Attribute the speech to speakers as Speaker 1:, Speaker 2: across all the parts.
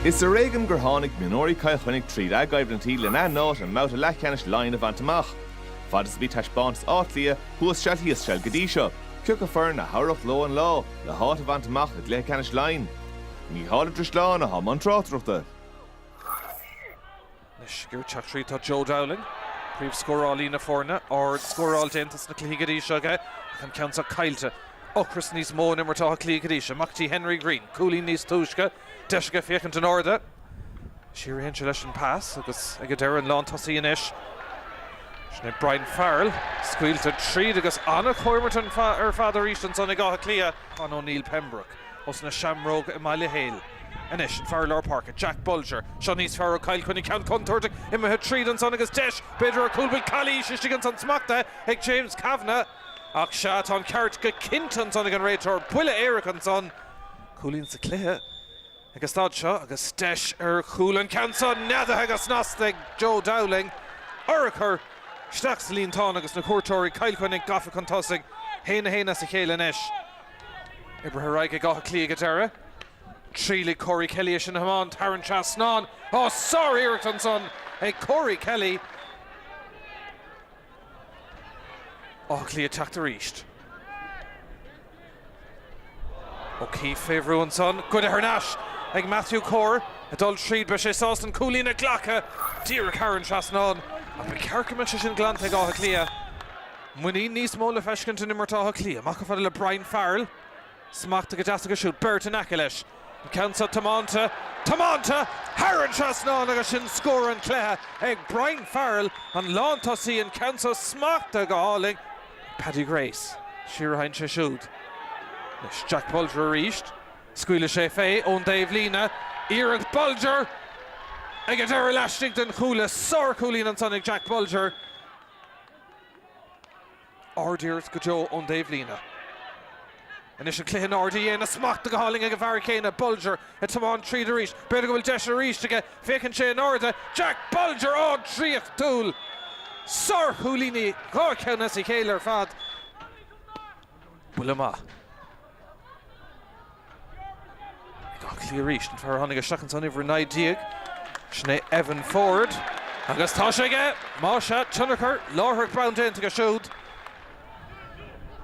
Speaker 1: Is ar éigean gur tháinig mionúirí Chill Chainnigh tríd a gcoimhlintí len a n-áit i mbabhta leathcheannais Laighean a bhaint amach. Fad is a bhí taispeántas Átha Cliath thuas seal thíos seal go dtí seo, ciacu foireann a thabharfadh leo an lá le háit a bhaint amach i gcluiche ceannais Laighean. Mícheál Ó Drisleáin a thug an tráchtaireacht.
Speaker 2: Anois ag teacht tríd tá Joe Dowling, príomhscórálaí na foirne, ard-scóráil déanta sna cluichí go dtí seo aige ach an ceann seo caillte. Ocras níos mó in imirt Átha Cliath go dtí seo. Amach dtí Henry Greene, cúilín níos túisce, deis aige féachaint in airde. Siar a théann sé leis an pas agus ag an deireadh an lántosaí anois. Sin é Brian Farrell, scaoilte tríd agus ana-chomhartha ar fad arís ansan ag Áth Cliath. Conn O'Neill Pembroke. Ós na Seamróga i mBaile Héil anois an fear lár páirce, Jack Bolger. Seo níos fearr ó Chill Chainnigh, ceann contúirteach imithe tríd ansan agus deis b'fhéidir ar chúl. Bhuel calaois istigh ansan smachtaithe ag James Kavanagh. Ach sea, tá an ceart go cinnte ansan ag an réiteoir. Buille éirice ansan. Cúilín sa chluiche ag an staid seo agus deis ar chúl. An ceann seo neadaithe go snasta ag Joe Dowling. Urchar isteach sa líontán agus na cuairteoirí Cill Chainnigh gafa chun tosaigh. 1-1 as a chéile anois. Oibrithe ar aghaidh ag Áth Cliath ag an deireadh. Triail ag Corey Kelly é sin a thiomáint thar an trasnán. Ó, sár-iarracht ansan ag Corey Kelly. Áth Cliath ag teacht arís. O'Keefe fé bhrú ansan. Goidte thar n-ais ag Matthew Corr. Ag dul tríd, beidh sé sásta an cúilín a ghlacadh díreach thar an trasnán. Ach ba ceart go mbeadh sé sin glanta ag Áth Cliath. Muinín níos mó le feiscint in imirt Átha Cliath. Amach go fada le Brian Farrell. Smachtaithe go deas aige siúd. Beirt in aice leis. An ceann seo tiomáinte. Tiomáinte! Thar an trasnán agus sin scór an chluiche ag Brian Farrell, an lántosaí. An ceann seo smachtaithe go hálainn ag Paddy Grace. Siar a théann sé siúd. Anois Jack Bolger arís. Scaoilfidh sé fé ón dtaobhlíne. Iarracht Bolger! Ag an deireadh laistigh den chuaille. Sárchúilín ansan ag Jack Bolger. Ard-iarracht go deo ón dtaobhlíne. Anois an cluiche in airde. Í ansan smachtaithe go hálainn ag an bhfear céanna, Bolger, ag tiomáint tríd arís. B'fhéidir go bhfuil deis arís aige. Féachann sé in airde. Jack Bolger! Ó draíochtúil! Sárchúilíní dhá cheann as a chéile ar fad. Buille maith. Áth Cliath arís an fear a tháinig isteach insan uimhir 19, sin é Evan Forde agus tá sé aige! Más ea, tionchar láithreach bonn aige siúd.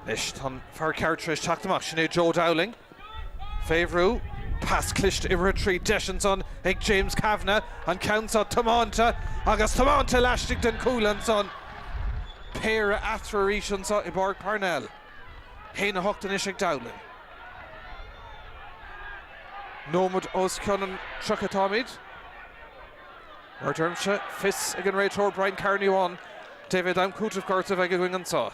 Speaker 2: Anois tá an fear ceart tar éis teacht amach, sin é Joe Dowling. Fé bhrú, pas cliste imithe tríd, deis ansan ag James Kavanagh, an ceann seo tiomáinte agus tiomáinte laistigh den chuaille ansan. Péire eatarthu arís anso i bPáirc Parnell. 1-8 anois ag Dowling. Nóiméad os cionn an 30 atáimid. Mar a deirimse, fios ag an réiteoir Brian Carney amháin cé mhéad am cúitimh gortaithe a bheidh againn anseo.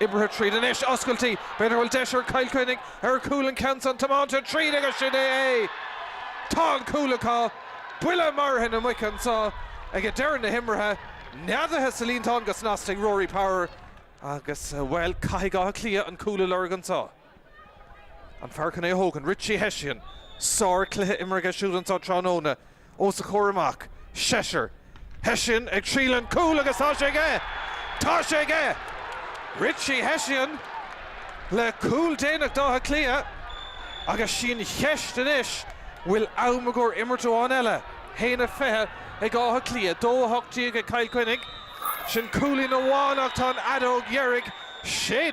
Speaker 2: Imeartha tríd anois, oscailt í, b'fhéidir go bhfuil deis ar Chill Chainnigh ar chúl, an ceann san, tiomáinte tríd agus sin é é! Tá an cúl acu! Buille marfa na muice anseo ag deireadh na himeartha, neadaithe sa líontán go snasta ag Rory Power. Agus, bhuel, caithfidh Áth Cliath an cúl a lorg anseo. An fear chun é a thógaint? Richie Hession. Sár-chluiche imeartha aige siúd anseo tráthnóna. Os a chomhair amach, seisear. Hession ag triail an cúl agus tá sé aige! Tá sé aige! Richie Hession le cúl déanach d'Átha Cliath. Agus sí an cheist anois, bhfuil am i gcomhair imirt amháin eile? 1-20 ag Áth Cliath, 2-18 ag Cill Chainnigh. Sin cúilín amháin ach tá an fheadóg dheiridh séi